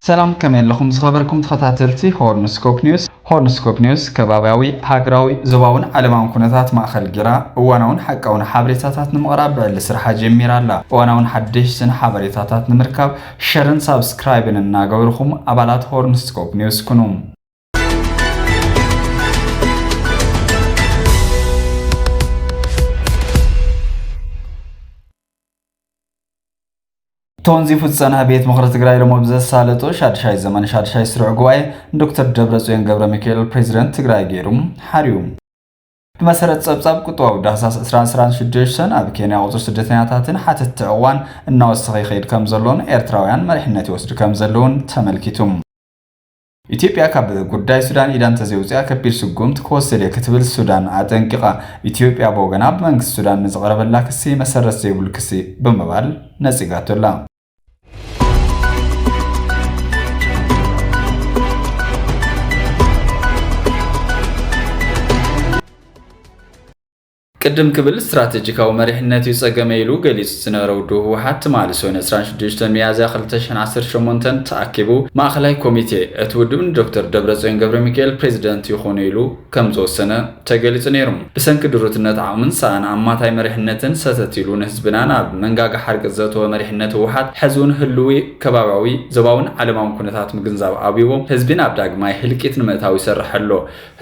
ሰላም ከመይ ኣለኹም ዝኸበርኩም ተኸታተልቲ ሆርን ስኮፕ ኒውስ። ሆርን ስኮፕ ኒውስ ከባብያዊ፣ ሃገራዊ፣ ዞባውን ዓለማውን ኩነታት ማእኸል ገይራ እዋናውን ሓቃውን ሓበሬታታት ንምቕራብ ብዕሊ ስርሓ ጀሚራ ኣላ። እዋናውን ሓደሽትን ሓበሬታታት ንምርካብ ሸርን ሳብስክራይብን እናገበርኹም ኣባላት ሆርን ስኮፕ ኒውስ ኩኑ። ቶንዚ ፍፀና ቤት ምክሪ ትግራይ ሎሞ ብዘሳለጦ ሻድሻይ ዘመን ሻድሻይ ስሩዕ ጉባኤ ንዶክተር ደብረፅዮን ገብረ ሚካኤል ፕሬዚደንት ትግራይ ገይሩ ሓርዩ ብመሰረት ፀብፃብ ቁጠባዊ ዳህሳስ 2026 ኣብ ኬንያ ቁፅሪ ስደተኛታትን ሓተትቲ ዕቕባን እናወሰኸ ይኸይድ ከም ዘሎን ኤርትራውያን መሪሕነት ይወስዱ ከም ዘለውን ተመልኪቱ ኢትዮጵያ ካብ ጉዳይ ሱዳን ኢዳ እንተዘይውፂኣ ከቢድ ስጉምቲ ክወስድ እየ ክትብል ሱዳን ኣጠንቂቓ። ኢትዮጵያ ብወገና ብመንግስቲ ሱዳን ንዝቐረበላ ክሲ መሰረት ዘይብሉ ክሲ ብምባል ነፂጋቶ ኣላ። ቅድም ክብል ስትራተጂካዊ መሪሕነት እዩ ጸገመይ ኢሉ ገሊጹ ዝነበረ ውድቡ ህወሓት ትማሊ ሰኑይ ዕስራን ሽዱሽተን ሚያዝያ ክልተ ሽሕን ዓሰርተ ሸሞንተን ተኣኪቡ ማእኸላይ ኮሚቴ እቲ ውድብ ንዶክተር ደብረጽዮን ገብረሚካኤል ፕሬዚደንት ይኹኑ ኢሉ ከምዝወሰነ ተገሊጹ ነይሩ። ብሰንኪ ድሩትነት ዓቕምን ሰኣን ኣማታይ መሪሕነትን ሰተት ኢሉ ንህዝብና ናብ መንጋጋ ሓርገጽ ዘእተወ መሪሕነት ህወሓት ሕዚውን ህልዊ ከባብያዊ፣ ዞባዊን ዓለማውን ኩነታት ምግንዛብ ኣብዩዎ ህዝቢ ናብ ዳግማይ ህልቂት ንምእታው ይሰርሕ ኣሎ።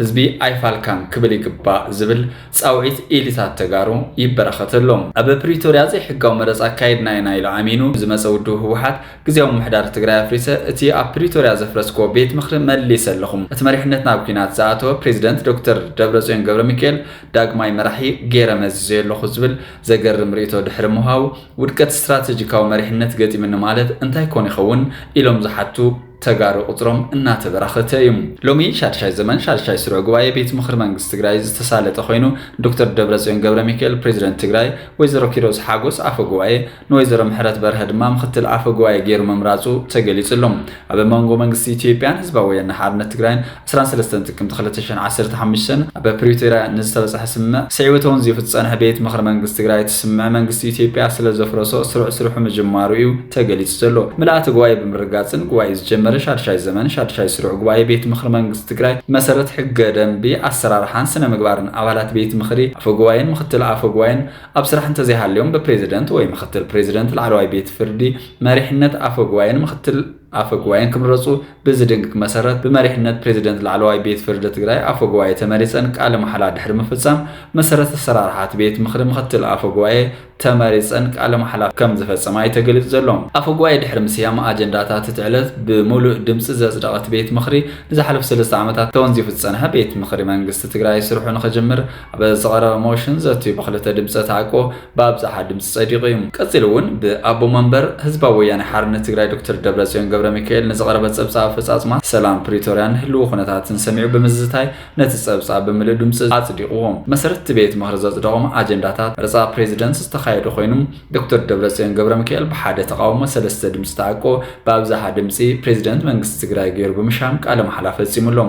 ህዝቢ ኣይፋልካን ክብል ይግባእ ዝብል ፃውዒት ኢሊታት ተጋሩ ይበራኸት ኣሎ። ኣብ ፕሪቶርያ ዘይሕጋዊ መረፃ ኣካይድና ኢና ኢሉ ኣሚኑ ዝመፀ ውድብ ህወሓት ግዝያዊ ምምሕዳር ትግራይ ኣፍሪሰ እቲ ኣብ ፕሪቶርያ ዘፍረስክዎ ቤት ምኽሪ መሊሰ ኣለኹ እቲ መሪሕነት ናብ ኲናት ዝኣተወ ፕሬዚደንት ዶክተር ደብረፅዮን ገብረሚካኤል ዳግማይ መራሒ ገይረ መዚዘዮ ኣለኹ ዝብል ዘገርም ሪኢቶ ድሕሪ ምሃቡ ውድቀት ስትራቴጂካዊ መሪሕነት ገጢምኒ ማለት እንታይ ኮን ይኸውን ኢሎም ዝሓቱ ተጋሩ ቁፅሮም እናተበራኸተ እዩ። ሎሚ ሻድሻይ ዘመን ሻድሻይ ስሩዕ ጉባኤ ቤት ምኽሪ መንግስቲ ትግራይ ዝተሳለጠ ኮይኑ ዶክተር ደብረፅዮን ገብረሚካኤል ፕሬዚደንት ትግራይ፣ ወይዘሮ ኪሮስ ሓጎስ ኣፈ ጉባኤ፣ ንወይዘሮ ምሕረት በርሀ ድማ ምኽትል ኣፈ ጉባኤ ገይሩ ምምራፁ ተገሊፁ ኣሎ። ኣብ መንጎ መንግስቲ ኢትዮጵያን ህዝባዊ ወያነ ሓርነት ትግራይን ዕስራን ሰለስተን ጥቅምቲ ክልተ ሽሕን ዓሰርተ ሓሙሽተን ኣብ ፕሪቶርያ ንዝተበፀሐ ስምምዕ ስዒቡ እተውን ዘይፉ ዝፀንሐ ቤት ምኽሪ መንግስቲ ትግራይ እቲ ስምምዕ መንግስቲ ኢትዮጵያ ስለዘፍረሶ ስሩዕ ስርሑ ምጅማሩ እዩ ተገሊፁ ዘሎ። ምልኣተ ጉባኤ ብምርግጋፅን ጉባኤኡ ዝጀመረ ሻድሻይ ዘመን ሻድሻይ ስሩዕ ጉባኤ ቤት ምኽሪ መንግስቲ ትግራይ ብመሰረት ሕገ ደንቢ፣ ኣሰራርሓን ስነ ምግባርን ኣባላት ቤት ምኽሪ፣ ኣፈ ጉባኤን ምኽትል ኣፈ ጉባኤን ኣብ ስራሕ እንተዘይሃልዮም ብፕሬዚደንት ወይ ምኽትል ፕሬዚደንት ላዕለዋይ ቤት ፍርዲ መሪሕነት ኣፈ ጉባኤን ምኽትል ኣፈ ጉባኤን ክምረፁ ብዝድንግግ መሰረት ብመሪሕነት ፕሬዚደንት ላዕለዋይ ቤት ፍርዲ ትግራይ ኣፈ ጉባኤ ተመሪፀን ቃለ ማሕላ ድሕሪ ምፍፃም መሰረት ኣሰራርሓ እቲ ቤት ምኽሪ ምኽትል ኣፈ ጉባኤ ተመሪፀን ቃለ ማሕላ ከም ዝፈፀማ እዩ ተገሊፁ ዘሎ። ኣፈ ጉባኤ ድሕሪ ምስያም ኣጀንዳታት እቲ ዕለት ብሙሉእ ድምፂ ዘፅደቐ እቲ ቤት ምኽሪ ንዝሓለፉ ሰለስተ ዓመታት ተወንዚፉ ዝፀንሐ ቤት ምኽሪ መንግስቲ ትግራይ ስርሑ ንኽጅምር ኣብ ዝቐረበ ሞሽን ዘትዩ ብክልተ ድምፀ ተኣቅቦ ብኣብዝሓ ድምፂ ፀዲቑ እዩ። ቀፂሉ እውን ብኣቦ መንበር ህዝባዊ ወያነ ሓርነት ትግራይ ዶክተር ደብረፅዮን ገብረሚካኤል ንዝቐረበ ፀብፃብ ኣፈፃፅማ ሰላም ፕሪቶርያን ህልዊ ኩነታትን ሰሚዑ ብምዝታይ ነቲ ፀብፃብ ብምልእ ድምፂ ኣፅዲቑዎ። ብመሰረት እቲ ቤት ምኽሪ ዘፅደቖም ኣጀንዳታት መረፃ ፕሬዚደንት ዝተኻየዱ ኮይኑ ዶክተር ደብረፅዮን ገብረሚካኤል ብሓደ ተቓውሞ ሰለስተ ድምፂ ተኣቅቦ ብኣብዝሓ ድምፂ ፕሬዚደንት መንግስቲ ትግራይ ገይሩ ብምሻም ቃለ መሓላ ፈፂሙ ኣሎ።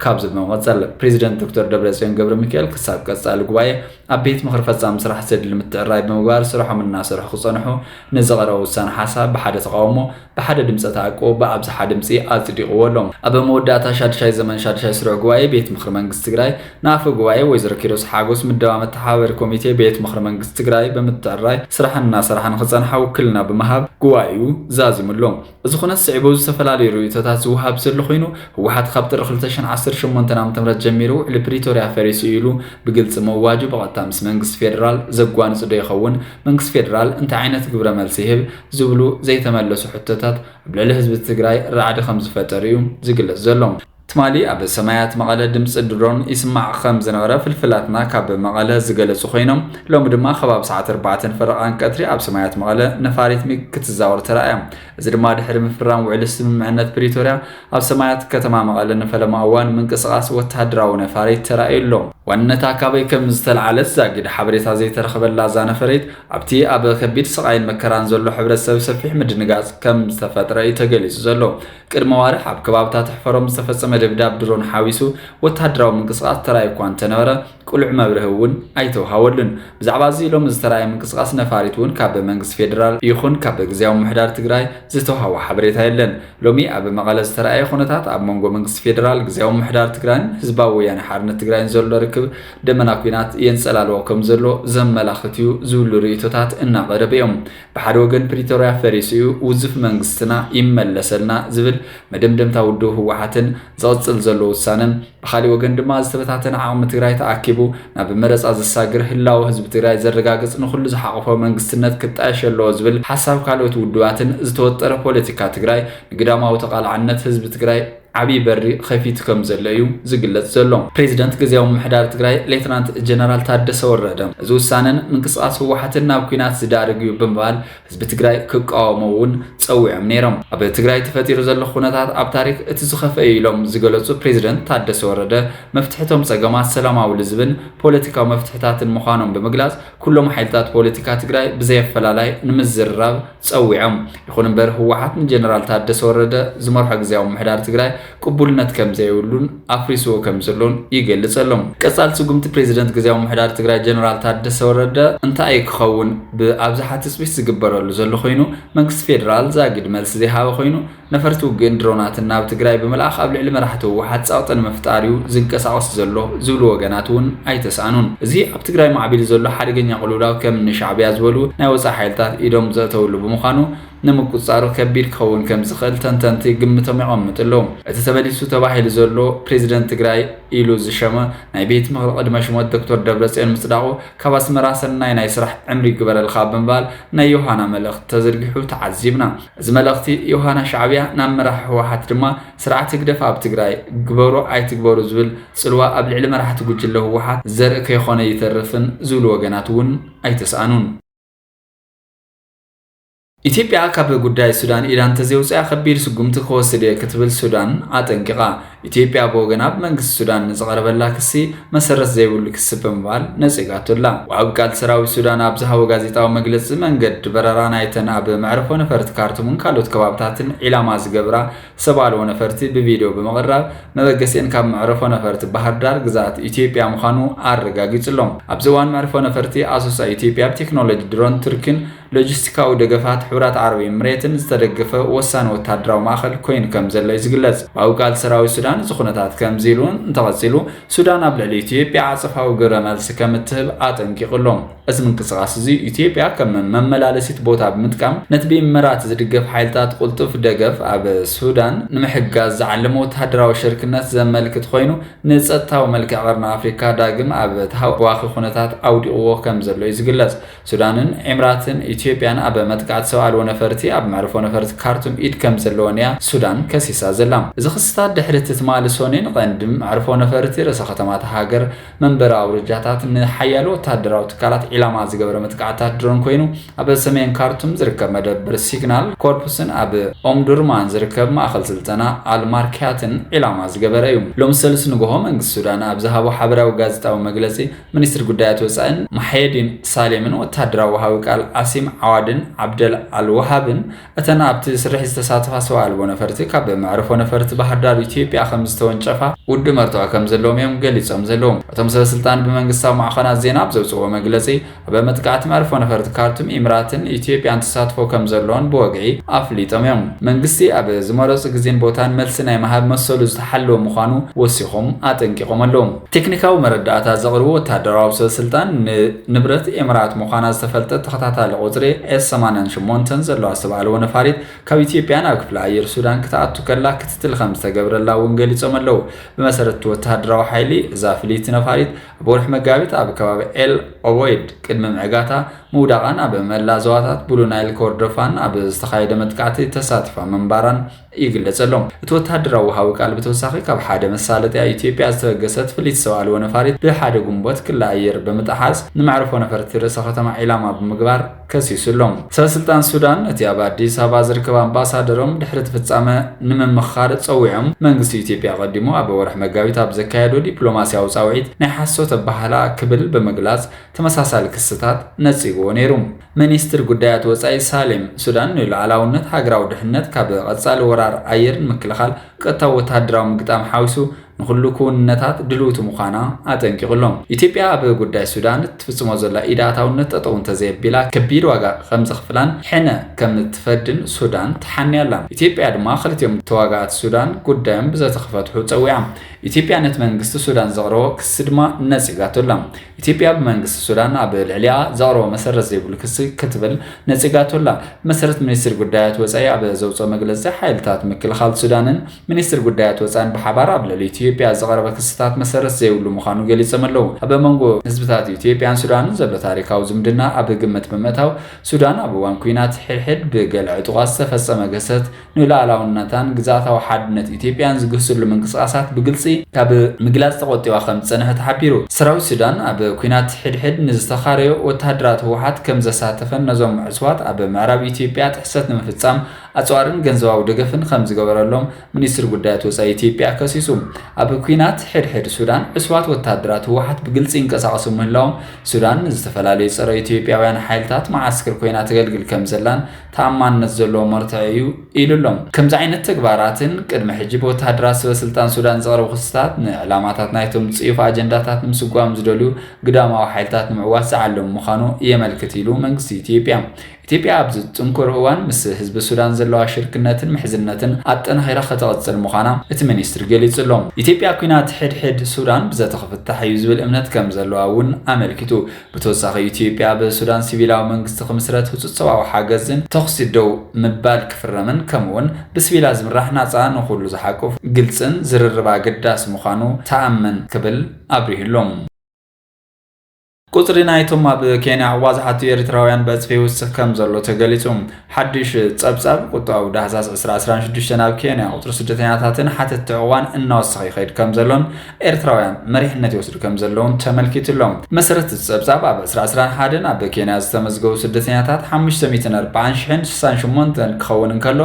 ካብዚ ብምቕፅል ፕሬዚደንት ዶክተር ደብረፅዮን ገብረሚካኤል ክሳብ ቀፃሊ ጉባኤ ኣብ ቤት ምኽሪ ፈፃሚ ስራሕ ዘድሊ ምትዕራይ ብምግባር ስርሖም እናሰርሑ ክፀንሑ ንዝቐረበ ውሳነ ሓሳብ ብሓደ ተቓውሞ ብሓደ ድምፀ ተኣቅቦ ብኣብዝሓ ድምፂ ኣፅዲቕዎ ኣሎ። ኣብ መወዳእታ ሻድሻይ ዘመን ሻድሻይ ስሩዕ ጉባኤ ቤት ምኽሪ መንግስቲ ትግራይ ንኣፈ ጉባኤ ወይዘሮ ኪሮስ ሓጎስ ምደባ መተሓባበሪ ኮሚቴ ቤት ምኽሪ መንግስቲ ትግራይ ብምትዕራይ ስራሕን እናሰርሓ ንክፀንሓ ውክልና ብምሃብ ጉባኤኡ ዛዚሙ ኣሎ። እዚ ኩነት ስዒቡ ዝተፈላለዩ ርእይቶታት ዝወሃብ ዘሎ ኮይኑ፣ ህወሓት ካብ ጥሪ ክልተ ሽሕን ዓሰርተ ሸሞንተን ዓመተምህረት ጀሚሩ ውዕሊ ፕሪቶርያ ፈሪሱ እዩ ኢሉ ብግልፂ ምእዋጁ ብቐጥታ ምስ መንግስቲ ፌደራል ዘጓንፅ ዶ ይኸውን? መንግስቲ ፌደራል እንታይ ዓይነት ግብረ መልሲ ይህብ? ዝብሉ ዘይተመለሱ ሕቶታት ኣብ ልዕሊ ህዝቢ ትግራይ ራዕዲ ከምዝፈጠሩ እዩ ዝግለፅ ዘሎ። ትማሊ ኣብ ሰማያት መቐለ ድምፂ ድሮን ይስማዕ ከም ዝነበረ ፍልፍላትና ካብ መቐለ ዝገለፁ ኮይኖም ሎሚ ድማ ከባቢ ሰዓት ኣርባዕተን ፈረቓን ቀትሪ ኣብ ሰማያት መቐለ ነፋሪት ሚግ ክትዛወር ተራእያ። እዚ ድማ ድሕሪ ምፍራም ውዕሊ ስምምዕነት ፕሪቶርያ ኣብ ሰማያት ከተማ መቐለ ንፈለማ እዋን ምንቅስቓስ ወተሃደራዊ ነፋሪት ተራእዩ ኣሎ። ዋንነታ ካበይ ከም ዝተልዓለት ዛጊድ ሓበሬታ ዘይተረኸበላ እዛ ነፈሪት ኣብቲ ኣብ ከቢድ ስቓይን መከራን ዘሎ ሕብረተሰብ ሰፊሕ ምድንጋፅ ከም ዝተፈጥረ እዩ ተገሊፁ ዘሎ። ቅድሚ ኣዋርሕ ኣብ ከባብታት ኣሕፈሮም ዝተፈጸመ ደብዳብ ድሮን ሓዊሱ ወተሃደራዊ ምንቅስቓስ ተራእዩ እኳ እንተነበረ ቅሉዕ መብርሂ እውን ኣይተውሃወሉን። ብዛዕባ እዚ ሎሚ ዝተራእየ ምንቅስቓስ ነፋሪት እውን ካብ መንግስቲ ፌደራል ይኹን ካብ ግዝያዊ ምምሕዳር ትግራይ ዝተውሃወ ሓበሬታ የለን። ሎሚ ኣብ መቐለ ዝተራእየ ኩነታት ኣብ መንጎ መንግስቲ ፌደራል፣ ግዝያዊ ምምሕዳር ትግራይን ህዝባዊ ወያነ ሓርነት ትግራይን ዘሎ ርክብ ደመና ኲናት የንጸላልዎ ከምዘሎ ዘመላኽት እዩ ዝብሉ ርእይቶታት እናቐረቡ እዮም። ብሓደ ወገን ፕሪቶርያ ፈሪሱ እዩ፣ ውዙፍ መንግስትና ይመለሰልና ዝብል መደምደምታ ውድብ ህወሓትን ዝቕፅል ዘሎ ውሳነን፣ ብኻሊእ ወገን ድማ ዝተበታተነ ዓቕሚ ትግራይ ተኣኪቡ ናብ መረፃ ዘሳግር፣ ህላወ ህዝቢ ትግራይ ዘረጋግፅ ንኹሉ ዝሓቖፈ መንግስትነት ክጣየሽ ኣለዎ ዝብል ሓሳብ ካልኦት ውድባትን ዝተወጠረ ፖለቲካ ትግራይ ንግዳማዊ ተቓላዕነት ህዝቢ ትግራይ ዓብዪ በሪ ኸፊቱ ከም ዘሎ እዩ ዝግለፅ ዘሎ። ፕሬዚደንት ግዝያዊ ምምሕዳር ትግራይ ሌተናንት ጀነራል ታደሰ ወረደ እዚ ውሳነን ምንቅስቓስ ህወሓትን ናብ ኲናት ዝዳርግ እዩ ብምባል ህዝቢ ትግራይ ክቃወሞ እውን ፀዊዖም ነይሮም። ኣብ ትግራይ ተፈጢሩ ዘሎ ኹነታት ኣብ ታሪክ እቲ ዝኸፍአ እዩ ኢሎም ዝገለፁ ፕሬዚደንት ታደሰ ወረደ መፍትሒ እቶም ፀገማት ሰላማዊ ልዝብን ፖለቲካዊ መፍትሕታትን ምዃኖም ብምግላፅ ኩሎም ሓይልታት ፖለቲካ ትግራይ ብዘየፈላላይ ንምዝርራብ ፀዊዖም። ይኹን እምበር ህወሓት ንጀነራል ታደሰ ወረደ ዝመርሖ ግዜያዊ ምሕዳር ትግራይ ቅቡልነት ከምዘይብሉን ኣፍሪስዎ ከምዘሎን ይገልፅ ኣሎ። ቀፃሊ ስጉምቲ ፕሬዚደንት ግዜያዊ ምሕዳር ትግራይ ጀነራል ታደሰ ወረደ እንታይ እዩ ክኸውን ብኣብዝሓ ትፅቢት ዝግበረሉ ዘሎ ኮይኑ መንግስቲ ፌዴራል ዛጊድ መልሲ ዘይሃበ ኮይኑ ነፈርቲ ውግእን ድሮናትን ናብ ትግራይ ብምልኣኽ ኣብ ልዕሊ መራሕቲ ህወሓት ፀቕጢ ንምፍጣር እዩ ዝንቀሳቐስ ዘሎ ዝብሉ ወገናት እውን ኣይተስኣኑን። እዚ ኣብ ትግራይ ማዕቢሉ ዘሎ ሓደገኛ ቅልውላው ከም እኒ ሻዕቢያ ዝበሉ ናይ ወፃኢ ሓይልታት ኢዶም ዘእተውሉ ብምዃኑ ንምቁፅፃሩ ከቢድ ክኸውን ከም ዝኽእል ተንተንቲ ግምቶም የቐምጡ ኣለዉ። እቲ ተመሊሱ ተባሂሉ ዘሎ ፕሬዚደንት ትግራይ ኢሉ ዝሸመ ናይ ቤት ምኽሪ ቕድመ ሽሞት ዶክተር ደብረፅዮን ምፅዳቑ ካብ ኣስመራ ሰናይ ናይ ስራሕ ዕምሪ ይግበረልኻ ብምባል ናይ ዮሃና መልእኽቲ ተዘርጊሑ ተዓዚብና። እዚ መልእኽቲ ዮሃና ሻዕብያ ናብ መራሒ ህወሓት ድማ ስርዓት ህግደፍ ኣብ ትግራይ ግበሩ ኣይትግበሩ ዝብል ፅልዋ ኣብ ልዕሊ መራሕቲ ጉጅለ ህወሓት ዘርኢ ከይኾነ ኣይተርፍን ዝብሉ ወገናት እውን ኣይተስኣኑን። ኢትዮጵያ ካብ ጉዳይ ሱዳን ኢዳ እንተዘይውፂኣ ከቢድ ስጉምቲ ክወስድ እየ ክትብል ሱዳን ኣጠንቂቓ። ኢትዮጵያ ብወገና ብመንግስቲ ሱዳን ንዝቐረበላ ክሲ መሰረት ዘይብሉ ክሲ ብምባል ነጺጋቶ ኣላ። ወሃቢ ቃል ሰራዊት ሱዳን ኣብ ዝሃቦ ጋዜጣዊ መግለጺ፣ መንገዲ በረራ ናይተን ኣብ መዕርፎ ነፈርቲ ካርቱምን ካልኦት ከባብታትን ዒላማ ዝገብራ ሰብ ኣልቦ ነፈርቲ ብቪድዮ ብምቕራብ መበገሲኤን ካብ መዕርፎ ነፈርቲ ባህርዳር ግዝኣት ኢትዮጵያ ምዃኑ ኣረጋጊጹ'ሎ። ኣብዚ እዋን መዕርፎ ነፈርቲ ኣሶሳ ኢትዮጵያ ብቴክኖሎጂ ድሮን ቱርኪን ሎጂስቲካዊ ደገፋት ሕቡራት ዓረብ ኤምሬትን ዝተደገፈ ወሳኒ ወተሃደራዊ ማእኸል ኮይኑ ከምዘሎ እዩ ዝግለፅ። ብኣዊ ቃል ሰራዊት ሱዳን እዚ ኩነታት ከምዚ ኢሉ እንተቐፂሉ ሱዳን ኣብ ልዕሊ ኢትዮጵያ ዓፀፋዊ ግብረ መልሲ ከምትህብ ኣጠንቂቑ ኣሎ። እዚ ምንቅስቓስ እዚ ኢትዮጵያ ከም መመላለሲት ቦታ ብምጥቃም ነቲ ብኢመራት ዝድገፍ ሓይልታት ቕልጡፍ ደገፍ ኣብ ሱዳን ንምሕጋዝ ዝዓለመ ወተሃደራዊ ሽርክነት ዘመልክት ኾይኑ ንፀጥታዊ መልክዕ ቐርኒ ኣፍሪካ ዳግም ኣብ ተሃዋኺ ኩነታት ኣውዲቕዎ ከምዘሎ እዩ ዝግለፅ። ሱዳንን ኤምራትን ኢትዮጵያን ኣብ መጥቃዕቲ ሰብ ኣልቦ ነፈርቲ ኣብ መዕርፎ ነፈርቲ ካርቱም ኢድ ከምዘለወን እያ ሱዳን ከሲሳ ዘላ። እዚ ክስታት ድሕሪ እቲ ትማሊ ሶኒን ቐንዲ መዕርፎ ነፈርቲ ርእሰ ከተማ እታ ሃገር መንበሪ ኣውርጃታት ንሓያሎ ወተሃደራዊ ትካላት ዒላማ ዝገበረ መጥቃዕትታት ድሮን ኮይኑ ኣብ ሰሜን ካርቱም ዝርከብ መደብር ሲግናል ኮርፕስን ኣብ ኦምዱርማን ዝርከብ ማእኸል ስልጠና ኣል ማርክያትን ዒላማ ዝገበረ እዩ። ሎሚ ሰሉስ ንጉሆ መንግስቲ ሱዳን ኣብ ዝሃቦ ሓበራዊ ጋዜጣዊ መግለፂ፣ ሚኒስትር ጉዳያት ወፃኢን ማሕየዲን ሳሌምን ወታደራዊ ወሃቢ ቃል ዓሲም ዓዋድን ዓብደል ኣልወሃብን እተን ኣብቲ ስርሒት ዝተሳተፋ ሰው ኣልቦ ነፈርቲ ካብ መዕርፎ ነፈርቲ ባህርዳር ኢትዮጵያ ከምዝተወንጨፋ ውድብ መርትዖ ከምዘለዎም እዮም ገሊፆም ዘለዉ። እቶም ሰበስልጣን ብመንግስታዊ ማዕኸናት ዜና ኣብ ዘውፅእዎ መግለፂ ኣብ መጥቃዕቲ መዕርፎ ነፈርቲ ካርቱም ኢምራትን ኢትዮጵያን ተሳትፎ ከምዘለዎን ብወግዒ ኣፍሊጦም እዮም። መንግስቲ ኣብ ዝመረፆ ግዜን ቦታን መልሲ ናይ ምሃብ መሰሉ ዝተሓለወ ምዃኑ ወሲኾም ኣጠንቂቖም ኣለዉ። ቴክኒካዊ መረዳእታ ዘቕርቡ ወተሃደራዊ ሰበስልጣን፣ ን ንብረት ኤምራት ምዃና ዝተፈልጠት ተኸታታሊ ቁጽሪ ኤስ ሰማንያን ሸሞንተን ዘለዋ ዝተባህለዎ ነፋሪት ካብ ኢትዮጵያ ናብ ክፍለ ኣየር ሱዳን ክትኣቱ ከላ ክትትል ከምዝተገብረላ እውን ገሊጾም ኣለው። ብመሰረት እቲ ወተሃደራዊ ሓይሊ፣ እዛ ፍልይቲ ነፋሪት ኣብ ወርሒ መጋቢት ኣብ ከባቢ ኤል ኦበይድ ቅድሚ ምዕጋታ ምውዳቓን ኣብ መላእ ዞባታት ብሉ ናይል ኮርዶፋን ኣብ ዝተኻየደ መጥቃዕቲ ተሳቲፋ ምንባራን ይግለጽ ኣሎ። እቲ ወተሃደራዊ ወሃቢ ቃል ብተወሳኺ ካብ ሓደ መሳለጥያ ኢትዮጵያ ዝተበገሰት ፍልይቲ ሰብ ኣልቦ ነፋሪት ብ ሓደ ግንቦት ክሊ ኣየር ብምጥሓስ ንመዕርፎ ነፈርቲ ርእሰ ከተማ ዒላማ ብምግባር ከሲሱ ኣሎ። ሰበስልጣን ሱዳን ነቲ ኣብ ኣዲስ ኣበባ ዝርከብ ኣምባሳደሮም ድሕሪ እቲ ፍጻመ ንምምኽኻር ጸዊዖም፣ መንግስቲ ኢትዮጵያ ኣቐዲሙ ኣብ ወርሒ መጋቢት ኣብ ዘካየዶ ዲፕሎማስያዊ ጻውዒት ናይ ሓሶት ኣበሃህላ ክብል ብምግላጽ ተመሳሳሊ ክስታት ነጺግዎ ነይሩ። ሚኒስትር ጉዳያት ወጻኢ ሳሌም ሱዳን ንሉዓላውነት፣ ሃገራዊ ድሕንነት፣ ካብ ቐጻሊ ወራር ኣየር ንምክልኻል ቐጥታዊ ወተሃደራዊ ምግጣም ሓዊሱ ንኹሉ ክውንነታት ድልውቲ ምዃና ኣጠንቂቑ'ሎ። ኢትዮጵያ ኣብ ጉዳይ ሱዳን እትፍጽሞ ዘላ ኢድ ኣእታውነት ጠጠው እንተዘየቢላ ከቢድ ዋጋ ከምዘኽፍላን ሕነ ከምትፈድን ሱዳን ተሓንያ'ላ። ኢትዮጵያ ድማ ክልቲኦም ተዋጋእቲ ሱዳን ጉዳዮም ብዘተ ክፈትሑ ጸዊዓ። ኢትዮጵያ ነቲ መንግስቲ ሱዳን ዘቕረቦ ክሲ ድማ ነጺጋቶ'ላ። ኢትዮጵያ ብመንግስቲ ሱዳን ኣብ ልዕሊኣ ዘቕረቦ መሰረት ዘይብሉ ክሲ ክትብል ነጺጋቶ ኣላ። ብመሰረት ሚኒስትሪ ጉዳያት ወጻኢ ኣብ ዘውጽኦ መግለጺ፣ ሓይልታት ምክልኻል ሱዳንን ሚኒስትሪ ጉዳያት ወጻኢን ብሓባር ኣብ ልዕሊ ኢትዮጵያ ዝቐረበ ክስታት መሰረት ዘይብሉ ምዃኑ ገሊጾም ኣለው። ኣብ መንጎ ህዝብታት ኢትዮጵያን ሱዳንን ዘሎ ታሪኻዊ ዝምድና ኣብ ግምት ብምእታው፣ ሱዳን ኣብ እዋን ኲናት ሕድሕድ ብገለ ዕጡቓት ዝተፈጸመ ግህሰት፣ ንሉኣላውነታን ግዝኣታዊ ሓድነት ኢትዮጵያን ዝግህስሉ ምንቅስቓሳት ብግልፂ ካብ ምግላፅ ተቖጢባ ከምዝፀንሐት ሓቢሩ። ሰራዊት ሱዳን ኣብ ኲናት ሕድሕድ ንዝተኻረዩ ወተሃደራት ህወሓት ከምዘሳተፈን ነዞም ዕፅዋት ኣብ ምዕራብ ኢትዮጵያ ጥሕሰት ንምፍፃም ኣፅዋርን ገንዘባዊ ደገፍን ከምዝገበረሎም ሚኒስትሪ ጉዳያት ወፃኢ ኢትዮጵያ ከሲሱ። ኣብ ኲናት ሕድሕድ ሱዳን ዕሱባት ወተሃደራት ህወሓት ብግልፂ ይንቀሳቐሱ ምህላዎም ሱዳን ንዝተፈላለዩ ፀረ ኢትዮጵያውያን ሓይልታት መዓስክር ኮይና ተገልግል ከምዘላን ተኣማንነት ዘለዎ መርትዖ እዩ ኢሉ'ሎም። ከምዚ ዓይነት ተግባራትን ቅድሚ ሕጂ ብወተሃደራት ሰበስልጣን ሱዳን ዝቐረቡ ክስታት ንዕላማታት ናይቶም ጽዩፍ ኣጀንዳታት ንምስጓም ዝደልዩ ግዳማዊ ሓይልታት ንምዕዋት ዝዓለሙ ምዃኑ የመልክት ኢሉ መንግስቲ ኢትዮጵያ። ኢትዮጵያ ኣብዚ ጽንኩር እዋን ምስ ህዝቢ ሱዳን ዘለዋ ሽርክነትን ምሕዝነትን ኣጠናኺራ ከተቕጽል ምዃና እቲ ሚኒስትሪ ገሊጹ'ሎ። ኢትዮጵያ ኲናት ሕድሕድ ሱዳን ብዘተ ክፍታሕ እዩ ዝብል እምነት ከምዘለዋ እውን ኣመልኪቱ። ብተወሳኺ ኢትዮጵያ ኣብ ሱዳን ሲቪላዊ መንግስቲ ክምስረት፣ ህፁፅ ሰብኣዊ ሓገዝን ተኹሲ ደው ምባል ክፍረምን ከምኡ እውን ብሲቪላት ዝምራሕ ናፃ፣ ንኹሉ ዝሓቁፍ ግልፅን ዝርርብ ኣገዳሲ ምዃኑ ትኣምን ክብል ኣብሪሁ'ሎ። ቁፅሪ ናይቶም ኣብ ኬንያ ዑቕባ ዝሓቱ ኤሪትራውያን ብዕፅፊ ይውስኽ ከምዘሎ ተገሊፁ። ሓድሽ ጸብጻብ ቁጠባዊ ዳህሳስ ዕስራ ዕስራን ሽዱሽተን ኣብ ኬንያ ቁጽሪ ስደተኛታትን ሓተትቲ ዕቑባን እናወሰኸ ይኸይድ ከም ዘሎን ኤርትራውያን መሪሕነት ይወስዱ ከም ዘለውን ተመልኪቱ ኣሎ። ብመሰረት እቲ ጸብጻብ ኣብ ዕስራ ዕስራን ሓደን ኣብ ኬንያ ዝተመዝገቡ ስደተኛታት ሓሙሽተ ሚእትን ኣርብዓን ሽሕን ስሳን ሸሞንተን ክኸውን እንከሎ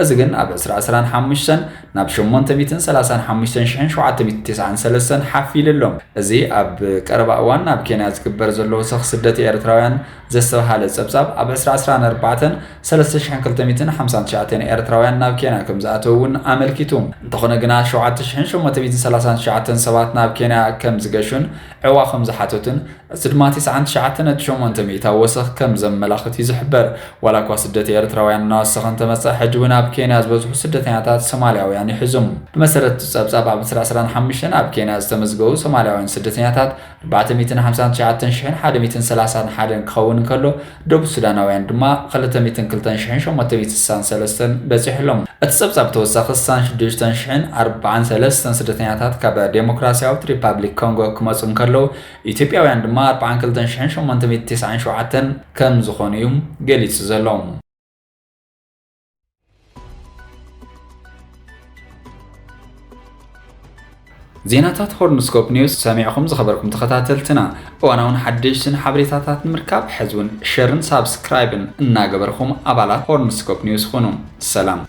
እዚ ግን ኣብ ዕስራ ዕስራን ሓሙሽተን ናብ ሸሞንተ ሚእትን ሰላሳን ሓሙሽተን ሽሕን ሸውዓተ ሚእትን ቴስዓን ሰለስተን ሓፍ ኢሉ ኣሎ። እዚ ኣብ ቀረባ እዋን ናብ ኬንያ ዝግበር ዘሎ ወሰኽ ስደት ኤርትራውያን ዘስተብሃለ ጸብጻብ፣ ኣብ ዕስራ ዕስራን ኣርባዕተን፣ ሰለስተ ሽሕን ክልተ ሚእትን ሓምሳን ትሽዓተን ኤርትራውያን ናብ ኬንያ ከምዝኣተዉ እውን ኣመልኪቱ። እንተኾነ ግና ሸውዓተ ሽሕን ሸሞንተ ሚእትን ሰላሳን ትሽዓተን ሰባት ናብ ኬንያ ከምዝገሹን ዐዕዋ ከምዝሓተቱን፣ እዚ ድማ ቴስዓን ትሽዓተ ነጥቢ ሸሞንተ ሚእታዊ ወሰኽ ከምዘመላኽት እዩ ዝሕበር። ዋላኳ ስደት ኤርትራውያን እናወሰኸ እንተመጸ፣ ሕጂ እውን ኣብ ኬንያ ዝበዝሑ ስደተኛታት ሶማልያውያን ይሕዙም። ብመሰረት እቲ ጸብጻብ፣ ኣብ ዕስራ ዕስራን ሓሙሽተን ኣብ ኬንያ ዝተመዝገቡ ሶማልያውያን ስደተኛታት፣ ኣርባዕተ ሚእትን ሓምሳን ትሽዓተን ሽሕን ሓደ ሚእትን ሰላሳን ሓደን ክኸውን እንከሎ፣ ደቡብ ሱዳናውያን ድማ ክልተ ሚእትን ክልተን ሽሕን ሸሞንተ ሚእትን ስሳን ሰለስተን በጺሑ ኣሎ። እቲ ጸብጻብ ብተወሳኺ ስሳን ሽዱሽተን ሽሕን ኣርባዓን ሰለስተን ስደተኛታት ካብ ደሞክራስያዊት ሪፓብሊክ ኮንጎ ክመጹ እንከለዉ፣ ኢትዮጵያውያን ድማ ኣርባዓን ክልተን ሽሕን ሸሞንተ ሚእትን ቴስዓን ሸውዓተን ከምዝኾኑ'ዩ ገሊጹ ዘሎ። ዜናታት ሆርንስኮፕ ኒውስ ሰሚዕኹም ዝኸበርኩም ተኸታተልትና እዋናውን ሓደሽትን ሓበሬታታት ንምርካብ ሕዚ እውን ሸርን ሳብስክራይብን እናገበርኹም ኣባላት ሆርንስኮፕ ኒውስ ኹኑ ሰላም